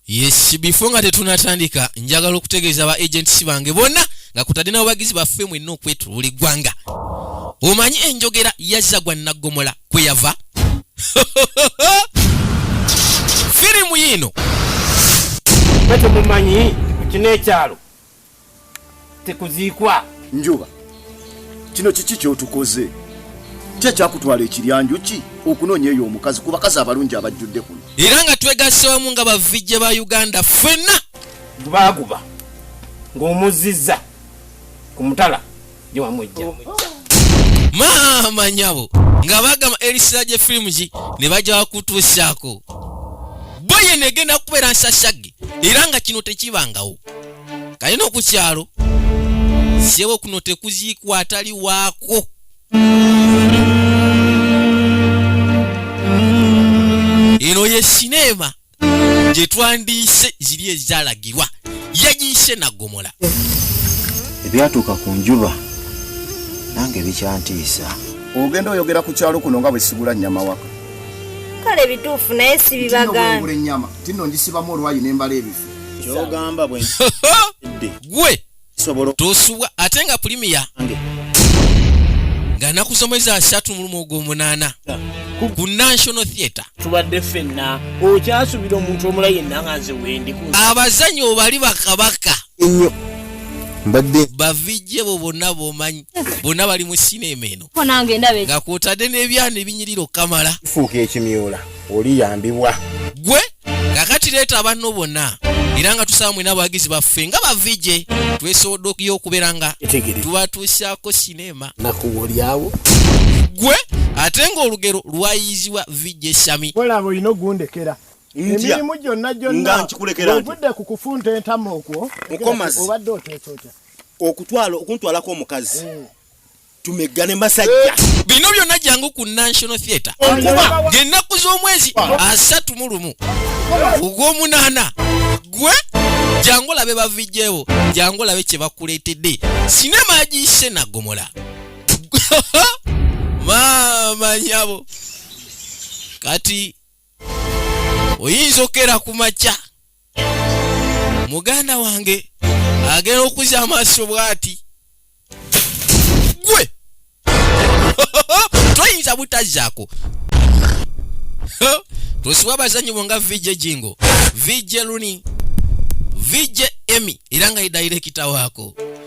yes before nga tetunatandika njagala okutegeeza ba agents bange bonna nga kutadde n'abawagizi baffe mwenna okwetu buli ggwanga omanyi enjogera yazza gwa naggomola kwe yava firimu yiino temumanyi kino ekyalo tekuziikwa njuba kino kiki kyotukoze ki ekyakutwala ekiryanjuki okunoonya eyo omukazi ku bakazi abalungi abajjudde kuno era nga twegasse wamu nga bavijje ba uganda ffenna gubaaguba ng'omuzziza ku mutala maama nyabo nga bagamba erisira gye firimu gi ne bajja bakutuusaako bo yeno egenda kubeera nsasagge era nga kino tekibangawo kalina ku kyalo sebo kuno tekuziikwa atali waako eno ye sineema gye twandiyise ziri ezalagirwa yagiyise nagomola ebyatuuka ku njuba nange bikyantiisa ogenda oyogera ku kyalo kuno nga bwesigula nyama waka kale bituufu naye sibibagambula enyama tino njisibamu olwayi nembala ebifu kyogamba bwe gwe tosubwa ate nga pulimiya nga naku zomwezi asatu mulumu ogwomunaana ku national theatre tubadde fenna okyasubira omuntu omula yenna nga nze wendi abazanyi obali bakabaka ennyo mbadde bavijje bo bonna bomanyi bonna bali mu sinema eno nga kwotadde n'ebyana ebinyirira okukamala fuuka ekimyula oliyambibwa gwe kakati leeta abanno bonna era nga tusaba mwena abawagizi baffe nga bavije twesobodde okuya okubeera nga tubatuusaako sineema nakuwolyawo gwe ate ng'olugero lwayizibwa vije sami olaba olina ogundekera emirimu gyonna gyonnaovudde ku kufunta entama okwo obadde oteetota okutwala okuntwalako omukazi mm. tumeggane masajja bino byonna jangu ku national theatre ngenaku z'omwezi asatu mu lumu ogw'omunaana gwe jangu olabe bavijjewo jangu olabe kye bakuleetedde sinema agiyise nagomola maama nyabo kati oyinza okukera ku makya muganda wange agenda okuza amaaso bwati gwe toyinza butazaako tusiwa abazanyi bo nga vijje jingo vijje luni vijje emi era nga ye dayirekita waako